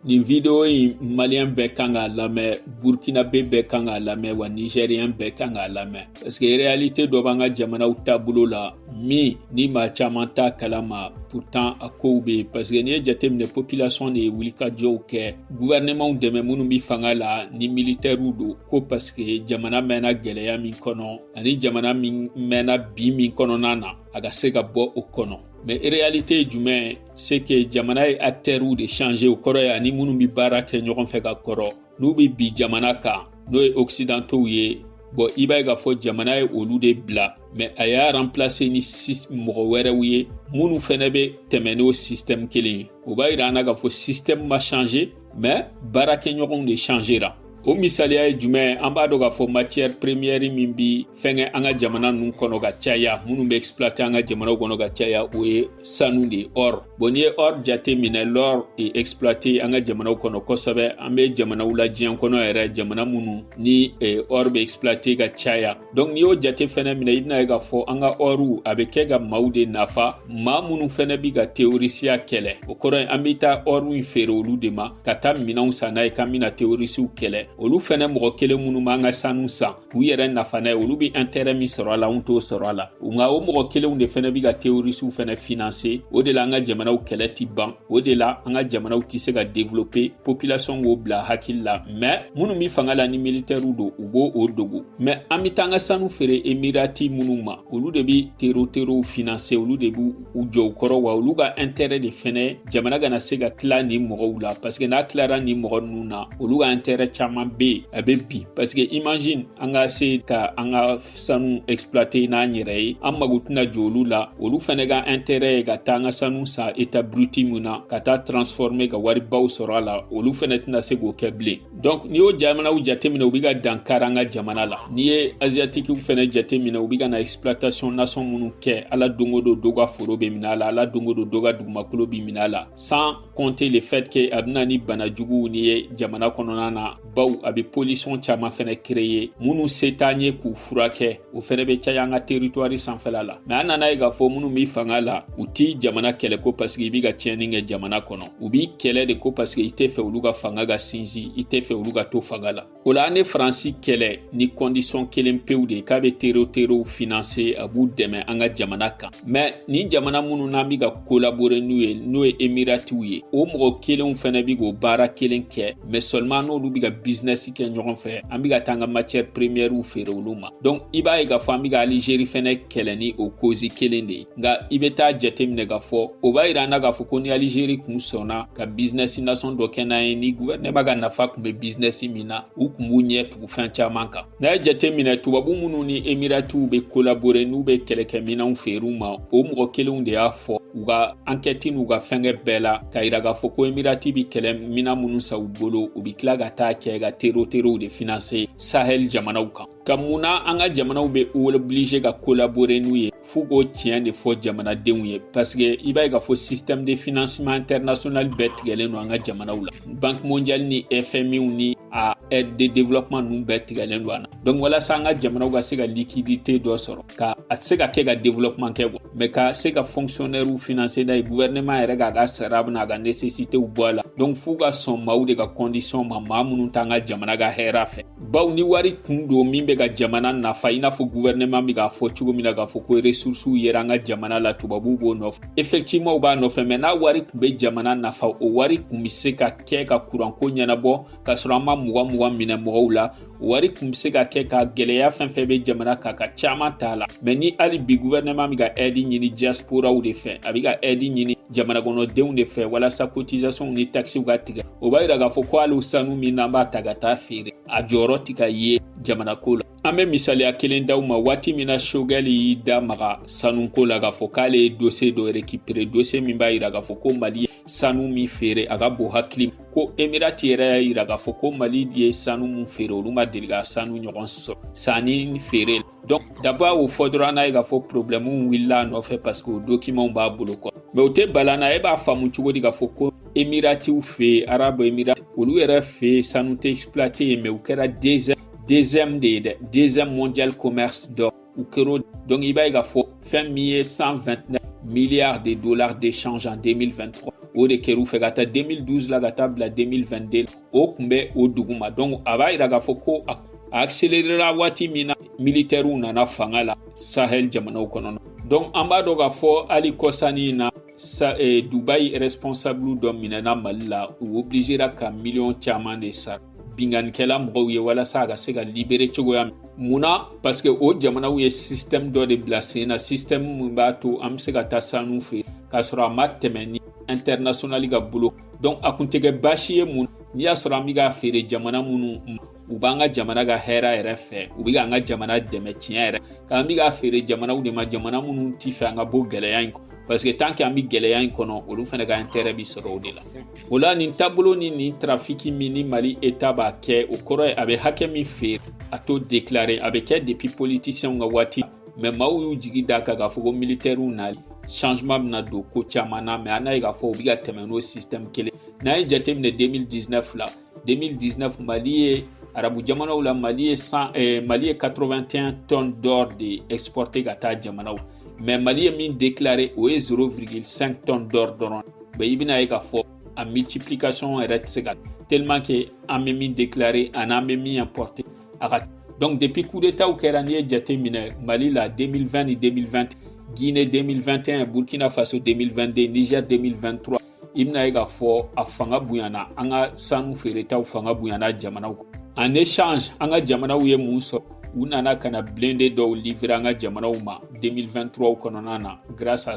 nin video in maliyɛn bɛɛ kan k'a lamɛn burkinabe bɛɛ kan k'a lamɛn wa nizɛriyɛn bɛɛ kan k'a lamɛn paske reyalite dɔ b'an ka jamanaw taabolo la min ni maa caman t'a kalama pourtant a kow be yen paske n'i ye jateminɛ popilasɔn de ye wulikajɔw kɛ guvɛrɛnɛmanw dɛmɛ minnu be fanga la ni militɛriw don ko paske jamana mɛnna gwɛlɛya min kɔnɔ ani jamana min mɛnna bi min kɔnɔna na a ka se ka bɔ o kɔnɔ mɛ reyalite ye jumɛn ye se ke jamana ye aktɛriw de change o kɔrɔ ye an ni minnu be baara kɛ ɲɔgɔn fɛ ka kɔrɔ n'u be bin jamana kan n'o ye oksidantow ye bɔn i b'a ye k'a fɔ jamana ye olu de bila mɛ a y'a ranplase ni mɔgɔ wɛrɛw ye minnu fɛnɛ be tɛmɛ n'o sistɛmu kelen ye o b'a yira an na k'a fɔ sistɛmu ma change mɛ baarakɛɲɔgɔnw de changera o misaliya ye jumɛn an b'a dɔn k'a fɔ matiyɛri premiyɛri min bi fɛnkɛ an ka jamana ninnu kɔnɔ ka caya minnu bɛ exploite an ka jamanaw kɔnɔ ka caya o ye sanu de ye or bon n'i ye or jate minɛ l'or est exploité an ka jamanaw kɔnɔ kosɛbɛ an bɛ jamanaw la diɲɛ kɔnɔ yɛrɛ jamana minnu ni e, or bɛ exploite ka caya donc n'i y'o jate fɛnɛ minɛ i bɛna ye k'a fɔ an ka ɔriw a bɛ kɛ ka maaw de nafa maa minnu fɛnɛ bi ka terorisiya kɛlɛ o kɔrɔ ye an bɛ taa ɔriw feere olu de ma ka taa minɛnw san n'a ye k'an bɛna terorisiw kɛlɛ olu fɛnɛ mɔgɔ kelen minnu b'an ka sanu san k'u yɛrɛ nafa n'a ye olu bɛ intérêt min sɔrɔ a la anw t'o sɔrɔ a la nka o mɔgɔ kelenw de fɛnɛ bɛ ka terrorisiw fɛnɛ financer o de la an ka jamanaw kɛlɛ ti ban o de la an ka jamanaw tɛ se ka développer population k'o bila hakili la mais minnu bɛ fanga la ni militaires don u b'o o dogo mais an bɛ taa an ka sanu feere emirati minnu ma olu de bɛ tero terow financer olu de b'u u jukɔrɔ wa olu ka intérêt de fɛnɛ jamana kana se ka tila nin mɔgɔw la parce que n'a tilara nin mɔgɔ ninnu na olu ka intérêt caman be yen a be bin parce que imagine an ka se ka an ka sanu exploiter n'an yɛrɛ ye an mago tɛna jɔ olu la olu fɛnɛ ka intérêt ye ka taa an ka sanu san état brut min na ka taa transformer ka waribaw sɔrɔ a la olu fɛnɛ tɛna se k'o kɛ bilen donc n'i y'o jamanaw jateminɛ u bɛ ka dankari an ka jamana la n'i ye aziyatikiw fɛnɛ jateminɛ u bɛ ka na exploitation nasɔn minnu kɛ ala don o don dɔ ka foro bɛ minɛ a la ala don o don dɔ ka dugumakolo bɛ minɛ a la sans compter le fait que a bɛna ni bana juguw nin ye jamana kɔnɔna na bawo a bɛ pollution caman fɛnɛ créer minnu se t'an ye k'u furakɛ o fɛnɛ be caya an ka teritwari sanfɛla la mɛ an nana ye k'a fɔ minnu bi fanga la u t'i jamana kɛlɛ ko pasiki i b'i ka tiɲɛni kɛ jamana kɔnɔ u b'i kɛlɛ de ko pasiki i tɛ fɛ olu ka fanga ka sinsin i tɛ fɛ olu ka to fanga la o la an ye faransi kɛlɛ ni kɔndisɔn kelen pewu de ye k'a be tero terow finanse a b'u dɛmɛ an ka jamana kan mɛ nin jamana minnu n'an bɛ ka kolabore n'u ye n'o ye emiratiw ye o mɔgɔ kelenw fɛnɛ bɛ k'o baara kelen kɛ mɛ sɔliman n'olu bɛ ka bizinɛsi kɛ ɲɔgɔn fɛ an bɛ ka taa an ka matiyɛri premiɛriw feere olu ma donk i b'a ye k'a fɔ an bɛ ka alizeri fɛnɛ kɛlɛ ni o kozi kelen de ye nka i bɛ taa jateminɛ k'a fɔ o b'a yira an na k'a fɔ ko ni alizeri kun sɔnna ka bizinɛsi nasɔn dɔ kɛ n'an ye ni guvɛrinɛma ka nafa kun bɛ bizinɛsi min na u kun b'u ɲɛ tugu fɛn caman kan n'a y'a jate minɛ tubabu minnu ni emiratiw bɛ kolabore n'u bɛ kɛlɛkɛminɛnw feere u ma o mɔgɔ kelenw de y'a fɔ u ka ankɛti n'u ka fɛnkɛ bɛɛ la k'a yira k'a fɔ ko emirati bɛ kɛlɛ minan minnu san u bolo u bɛ tila ka taa kɛ ka teroterow de finanse sahɛli jamanaw kan ka mun na an ka jamanaw bɛ obilize ka kolabore n'u ye f'u k'o tiɲɛ de fɔ jamanadenw ye paseke i b'a ye k'a fɔ système de financement international bɛɛ tigɛlen don an ka jamanaw la banque mondiale ni fmiw ni a aide de développement ninnu bɛɛ tigɛlen don an na donc walasa an ka jamanaw ka se ka liquidité dɔ sɔrɔ ka a tɛ se ka kɛ ka développement kɛ quoi mais ka se ka fonctionnairew financer n'a ye gouvernement yɛrɛ k'a ka sara bɛna a ka nécessitéw bɔ a la donc f'u ka sɔn maaw de ka condition ma maa minnu t'an ka jamana ka hɛrɛ fɛ baw ni wari kun don min bɛ ka jamana nafa i n'a fɔ guvɛrɛnɛman bɛ k'a fɔ cogo min na k'a fɔ ko resursiw yera an ka jamana la tubabuw b'o nɔfɛ efɛkitiviman u b'a nɔfɛ mɛ n'a wari kun bɛ jamana nafa o wari kun bɛ se ka kɛ ka kuranko ɲɛnabɔ k'a sɔrɔ an ma mugan mugan minɛ mɔgɔw la o wari kun bɛ se ka kɛ ka gɛlɛya fɛn fɛn bɛ jamana kan ka caman t'a la mɛ ni hali bi guvɛrɛnɛman bɛ ka ɛdi ɲini diasporaw de fɛ a bɛ ka ɛdi ɲini jamana kɔnɔdenw de fɛ walasa kotisasɔnw ni takisiw ka tigɛ o b'a yira k'a fɔ ko hali sanu min n'an b'a ta ka taa feere a jɔyɔrɔ tɛ ka ye jamanako la an bɛ misaliya kelen d'aw ma waati min na sogɛli y'i da maga sanuko la k'a fɔ k'ale ye dose dɔ rekipere dose min b'a yira k'a fɔ ko mali ye sanu min feere a ka bon hakili ko emirati yɛrɛ y'a yira k'a fɔ ko mali ye sanu min feere olu ma deli ka sanu ɲɔgɔn sɔrɔ sannifeere Donc daba y'o fɔ dɔrɔn n'a ye k'a fɔ problème wulila a nɔfɛ parce que o document b'a bolo quoi mais o tɛ bala an na e b'a faamu cogo di k'a fɔ ko emiratiw fɛ arabu emirati olu yɛrɛ fɛ sanu tɛ exploité yen mais u kɛra deuxième deuxième de ye dɛ deuxième mondial commerce d'or u kɛr'o donc i b'a ye k'a fɔ fɛn min ye 129 milliards de dollars d'échange en 2023 o de kɛr'u fɛ k'a ta 2012 la ka taa bila 2022 o tun bɛ o duguma donc a b'a yira k'a fɔ ko a accelerera waati min na militɛriw nana fanga la sahel jamanaw kɔnɔna donc an b'a dɔn k'a fɔ hali kɔsa nin na sa, eh, dubai responsable dɔ minɛna mali la u obligera ka miliyɔn caman de sara binkannikɛla mɔgɔw ye walasa a ka se ka libere cogoya min mun na parce que o jamanaw ye système dɔ de bila sen na système min b'a to an bɛ se ka taa sanu feere k'a sɔrɔ a ma tɛmɛ ni internationali ka bolo donc a kun tɛ kɛ baasi ye mun n'i y'a sɔrɔ an bɛ k'a feere jamana minnu u b'an ka jamana ka hɛrɛ yɛrɛ fɛ u bɛ k'an ka jamana dɛmɛ tiɲɛ yɛrɛ k'an bɛ k'a feere jamanaw de ma jamana minnu ti fɛ an ka bɔ gɛlɛya in kɔnɔ parce que tant que an bɛ gɛlɛya in kɔnɔ olu fana ka intérêt bi sɔrɔ o de la o la nin taabolo ni nin trafiki min ni mali eta b'a kɛ o kɔrɔ ye a bɛ hakɛ min feere a t'o déclarer a bɛ kɛ depuis politiciens ka waati mɛ maaw y'u jigi d'a kan k'a fɔ ko militɛriw nali changement bɛna don ko caman na mɛ an n'a ye k'a fɔ u bɛ ka tɛmɛ n'o système kelen n'an ye jateminɛ 2019 la 2019 mali ye arabu jamanaw la mali ye san eh, mali ye 81 tonnes d'or de exporté ka taa jamanaw mɛ mali ye min déclaré o ye 0,5 tonnes d'or dɔrɔn ye i bɛna ye k'a fɔ a multiplication yɛrɛ tɛ se ka tellement que an bɛ min déclaré ani an bɛ min importé a ka donc depuis coup d'état kɛra n'i ye jate minɛ mali la 2020 ni 2021 guinée 2021 burkina faso 2022 niger 2023 i bɛna ye k'a fɔ a fanga bonyana an ka sanu feeretaw fanga bonyana jamanaw en échange an ka jamanaw ye mun sɔrɔ u nana ka na blindé dɔw livrer an ka jamanaw ma 2023 kɔnɔna na grâce à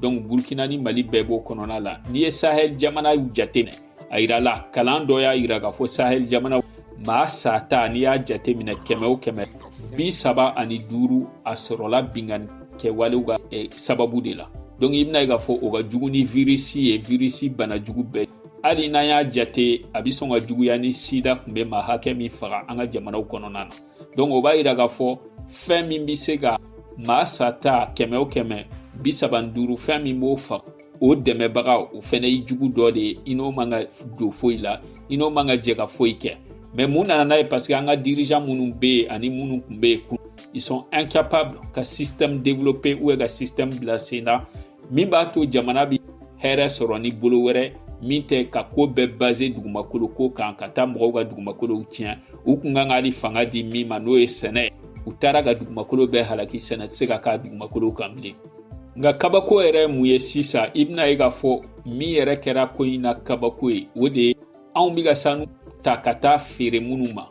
donc burkina ni mali bɛɛ b'o kɔnɔna la n'i ye sahel jamanaw jateminɛ a yirala kalan dɔ y'a yira k'a fɔ sahel jamana maa sata n'i y'a jate minɛ kɛmɛ o kɛmɛ bi saba ani duuru a sɔrɔla binkanni kɛwalew ka eh, sababu de la donc i bɛna ye k'a fɔ o ka jugu ni virisi ye virisi bana jugu bɛɛ hali n'an y'a jate a bɛ sɔn ka juguya ni sida kun bɛ maa hakɛ min faga an ka jamanaw kɔnɔna na donc o b'a yira k'a fɔ fɛn min bɛ se ka maa sata kɛmɛ o kɛmɛ bi saba ni duuru fɛn min b'o faga o dɛmɛbaga o fɛnɛ ye jugu dɔ de ye i n'o man ka don foyi la i n'o man ka jɛ ka foyi kɛ mɛ mun nana n'a ye parce que an ka dirijan minnu bɛ yen ani minnu kun bɛ yen ils sont incapables ka système développer ou ka système bila sen na min b'a to jamana bi hɛrɛ sɔrɔ ni bolo wɛrɛ min tɛ ka ko bɛɛ baser dugumakolo ko kan ka taa mɔgɔw ka dugumakolow tiɲɛ u kun kan ka ni fanga di min ma n'o ye sɛnɛ u taara ka dugumakolo bɛɛ halaki sɛnɛ tɛ se ka k'a dugumakolo kan bilen nka kabako yɛrɛ mun ye sisan i bɛna ye k'a fɔ min yɛrɛ kɛra ko in na kabako ye o de ye anw bɛ ka sanu ta ka taa feere minnu ma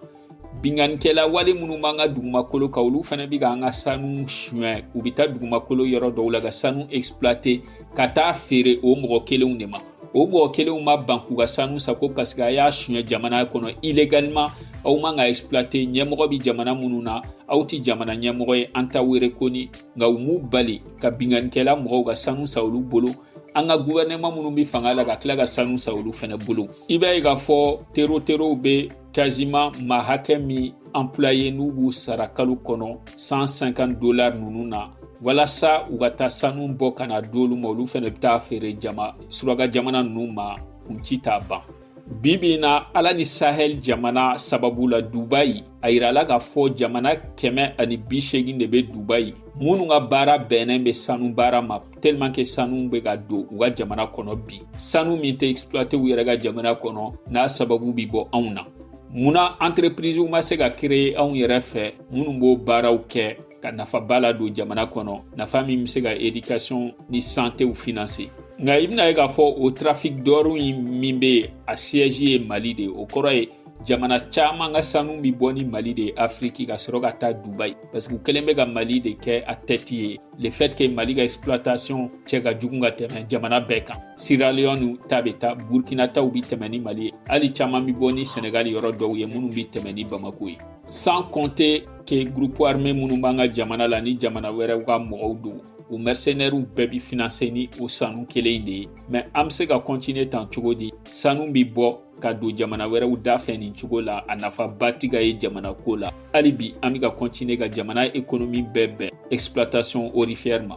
binkannikɛla wale minnu b'an ka dugumakolo kan olu fana bɛ ka an ka sanu suɲɛ u bɛ taa dugumakolo yɔrɔ dɔw la ka sanu exploiter ka taa feere o mɔgɔ kelenw de ma o mɔgɔ kelenw ma ban k'u ka sanu san ko paseke a y'a suɲɛ jamana kɔnɔ illégalement aw man k'a exploiter ɲɛmɔgɔ bɛ jamana minnu na aw tɛ jamana ɲɛmɔgɔ ye an t'aw reconnu nka u m'u bali ka binkanikɛla mɔgɔw ka sanu san olu bolo an ka guvɛrɛnɛman minnu bɛ fanga la ka tila ka sanu san olu fana bolo i b'a ye k'a fɔ teroterow bɛ quasiment maa hakɛ min employer n'u b'u sara kalo kɔnɔ 150 dolar ninnu na walasa u ka taa sanu bɔ ka na d'olu ma olu fana bɛ taa feere jama suraka jamana ninnu ma kun ci t'a ban bi bi in na ala ni sahel jamana sababu la dubayi a yirala k'a fɔ jamana kɛmɛ ani bi seegin de be dubayi minnu ka baara bɛnnen be sanu baara ma tellement que sanu be ka don u ka jamana kɔnɔ bi sanu min tɛ exploiter u yɛrɛ ka jamana kɔnɔ n'a sababu bi bɔ anw na mun na entreprisew ma se ka kreye anw yɛrɛ fɛ minnu b'o baaraw kɛ ka nafaba ladon jamana kɔnɔ nafa min bɛ se ka edikasɔn ni santew finanse nka i bɛna ye k'a fɔ o trafic d'or in min bɛ yen a siège ye mali de ye o kɔrɔ ye jamana caman ka sanu bɛ bɔ ni mali de ye afiriki ka sɔrɔ ka taa dubai parce que u kɛlen bɛ ka mali de kɛ a tête ye le fait que mali ka exploitation cɛ ka jugu ka tɛmɛ jamana bɛɛ kan sierra leone ta bɛ taa burkina taw bɛ tɛmɛ ni mali ye hali caman bɛ bɔ ni senegali yɔrɔ dɔw ye minnu bɛ tɛmɛ ni bamako ye sans compter que groupe armé minnu b'an ka jamana la ni jamana wɛrɛw ka mɔgɔw don o mercenaires bɛɛ bi financer ni o sanu kelen in de ye mais an bɛ se ka continuer tan cogo di sanu bi bɔ ka don jamana wɛrɛw da fɛ nin cogo la a nafaba ti ka ye jamana ko la hali bi an bɛ ka continuer ka jamana économie bɛɛ bɛn exploitation aurifère ma